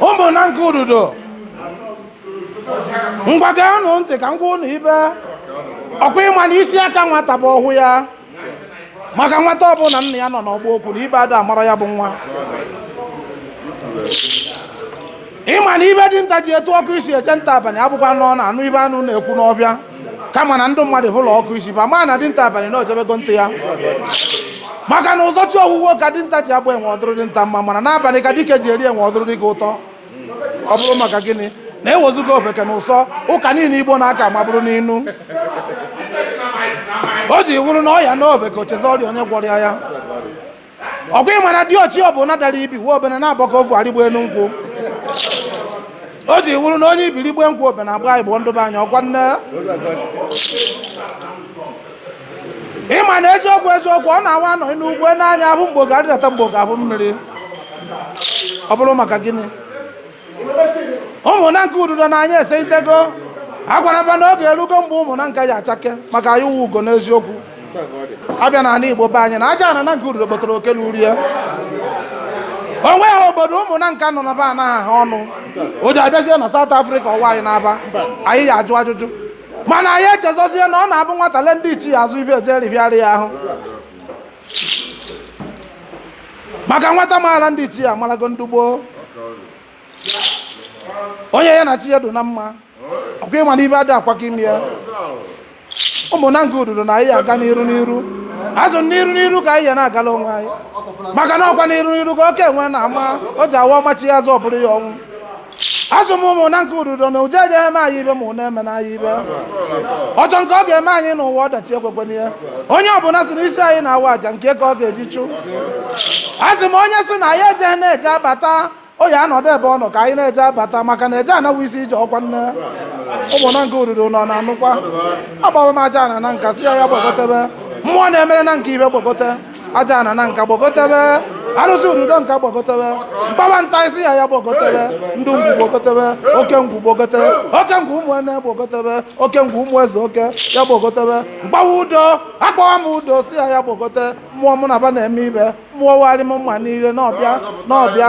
ụmụ Nanka Ududo ngwa geenụ ntị ka m gwa ụnụ ive ọkwa ịma na isi aka nwata bụ ọhụ ya maka nwata ọbụla nna ya nọ n'ọgbọ okwu na ive ada mara ya bụ nwa ịma na ive dinta ji etu ọkụ isi eje nta abalị abụkwa nọ na anụ ive anụ na-ekwu n'ọvịa kama na ndị mmadụ hụlọ ọkụ isi va ma na dinta abalị na o jebego nta ya maka na ụzọchi owuwe ka dinta ji agba enwe ọ dụrụ dinta mma mana n'abalị ka dike ji eri enwe ọ dụrụ dike ụtọ ọ bụrụ maka gịnị na ewezuga ofeke na ụsọ ụka niile igbo na-aka ma bụrụ n'inu o ji wụrụ na ọya naa ofeke o chezọrịa onye gwọrọ ya ya ọkwa ịma na diochi ọbụna dara ibi wee obene na-abọka ofu arịgbo elu nkwụ o ji wụrụ na onye ibi rigbe nkwụ obene agbagbu ndụba anya ọkwa nne ịma na eziokwu eziokwu ọ na-awa anọ n'ugwu n'anya ahụ mgbe oge arịdata mgbe oge ahụ mmiri ọ bụrụ maka gịnị ụmụ Nanka Ududo na anya ese itego a gwara va na oge erugo mgbe ụmụ Nanka ya achake maka anyị wụ ugo n'eziokwu abịa na ala igbo be anyị na ajaana Nanka Ududo kpọtara oke na urie o nweha obodo ụmụ Nanka nọ na be anaghị ha ọnụ ọjị abịazie na South Africa ọwa anyị na-aba anyị ya ajụ ajụjụ mana anyị echezọzie na ọ na-abụ nwata le ndị ichie azụ ibe eje ribịara ya ahụ maka nwata maara ndị ichie amarago ndị gboo onye ya na chi ya dị na mma ọkwa ịma na ive ada akwaka ime ya ụmụ Nanka Ududo na anyị aga n'iru n'iru azụ n'iru n'iru ka anyị ya na-agala onwe anyị maka na ọkwa n'iru n'iru ka oke enwe na-ama o ji awa ọ machie azụ ọ bụrụ ya ọnwụ asụ m ụmụ Nanka Ududo na uje eje eme anyị ive ma ụna emene anyị ive ọchọ nke ọ ga-eme anyị n'ụwa ọdachi ekwekwene ya onye ọbụla si n'isi anyị na-awa aja nke ka ọ ga-eji chụ asụ m onye sị na anyị ejene eje abata ọ ya-anọdụ ebe ọ nọ ka anyị na-eje abata maka na eje ana wụ isi ije ọkwa nne ụmụ Nanka Ududo ụnụ na-anụkwa akpọwa m ajaana Nanka sị ya ya gbagotebe mmụọ na-emere Nanka ive gbagote ajaana Nanka gbagotebe arụsị Ududo Nka gbagotebe m kpọwa Ntai sị ya ya gbagotebe ndị ngwu gbagotebe oke ngwu gbogote oke ngwu ụmụ ene gbagotebe oke ngwu ụmụ eze oke ya gbagotebe m kpọwa Udo akpọwa m Udo sị ya ya gbogote mmụọ mụ na va na-eme ive mmụọ warị m mma niile n'ọvịa n'ọvịa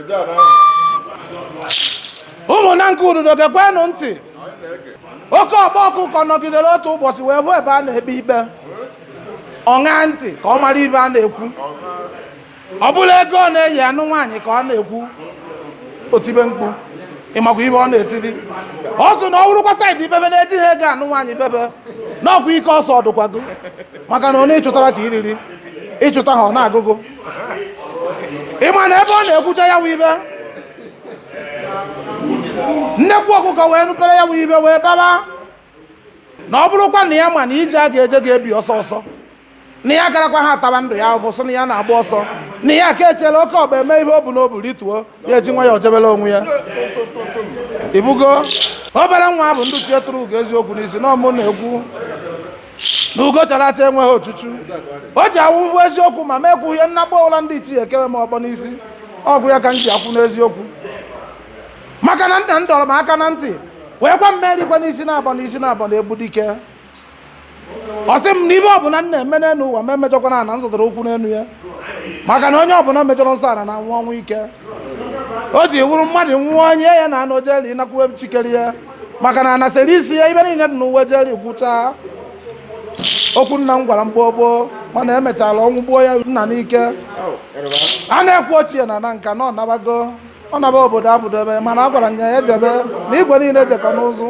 ụmụ Nanka Ududo gekwenụ ntị oke ọkpa ọkụkọ nọgidere otu ụbọchị wee hụ ebe a na-ekpe ikpe ọ ṅaa ntị ka ọ mara ive a na-ekwu ọ bụla ego a na-eji anụ nwaanyị ka a na-ekwu o tibe mkpu ị makwa ive ọ na-etiri ọ sị na ọ wụrụkwa side ibe be na-ejiha ego anụ nwaanyị be be n'ọkwa ike ọsọ ọdụkwago maka na onye ị chụtara ka i riri ị chụtaha ọ na-agụ gụ ị ma na ebe ọ na-ekwucha ya wụ ive nnekwu ọkụkọ wee nụpere ya wụ ive wee baba na ọ bụrụkwa na ya ma na ije a ga-eje ga-ebi ọsọ ọsọ na ya garakwa ha ataba ndụ ya bụ sị na ya na-agba ọsọ na ya ka echera oke ọkpa emee ihe o bu n'obu rituo ya eji nwayọọ jebela onwe ya ibugo obere nwa bụ ndị ichie turu ugo eziokwu n'isi na ọ mụ na-ekwu na ugo chara acha enweghị ochuchu o ji awụwụ eziokwu ma m ekwughị ihe nnakpọ ụla ndị ichie ekewe m ọkpọ n'isi ọ wụ ya ka m ji akwụ n'eziokwu maka na nna m dọrọ m aka na ntị wee gwa m erikwana isi naabọ n'isi naabọ na-egbu dike ọ sị m na ive ọbụla m na-eme n'elu ụwa m emejọkwana ana m zọtara ụkwụ n'elu ya maka na onye ọbụla mejọrọ nsọ ala na-anwụ ọnwụ ike o ji wụrụ mmadụ nwụọ onye ya na anụ jeli nakwuwe chikere ya maka na ana sịrị isi ya ive niile dị n'ụwa jeli gwụchaa okwu nna m gwara m gboo gboo mana emechara ọnwụ gbuo ya nna n'ike a na-ekwu ochie na Nanka na ọ nabago ọ naba obodo abụdobe mana a gwara m ya ejebe na igwe niile jekọ n'ụzụ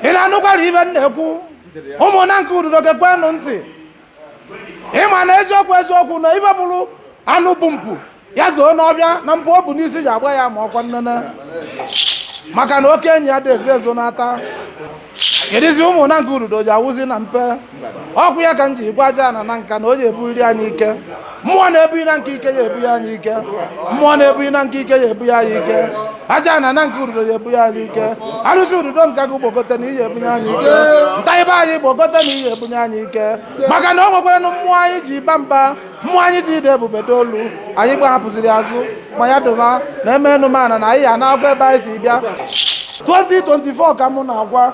ị na-anụkwara ive m na-ekwu ụmụ Nanka Ududo gekwenụ ntị ị ma na eziokwu eziokwu na ive bụrụ anụ bu mpụ ya zoo n'ọvịa na mpụ o bu n'isi ji agba ya ama ọkwa nnene maka na oke enyi adị ezo ezo n'ata kedụzi ụmụ Nanka Ududo ji awụzi na mpe ọ wụ ya ka m ji gwa Ajana Nanka na o ji ebuli anyị ike mmụọ na-ebunye Nanka ike ya ebunye anyị ike mmụọ na-ebunye Nanka ike ya ebunye anyị ike Ajana Nanka Ududo ya ebunye anyị ike arụsị Ududonka gị gbogote na ị ya-ebunye anyị ike ntaibe anyị gbogote na ị ya-ebunye anyị ike maka na o nwekwaranụ mmụọ anyị ji aba mba mmụọ anyị ji ede ebube dolu anyị gbahapụziri azụ ma ya dụba na eme enumana na anyị ya na-agwa ebe anyị si bịa 2024 ka mụ na-agwa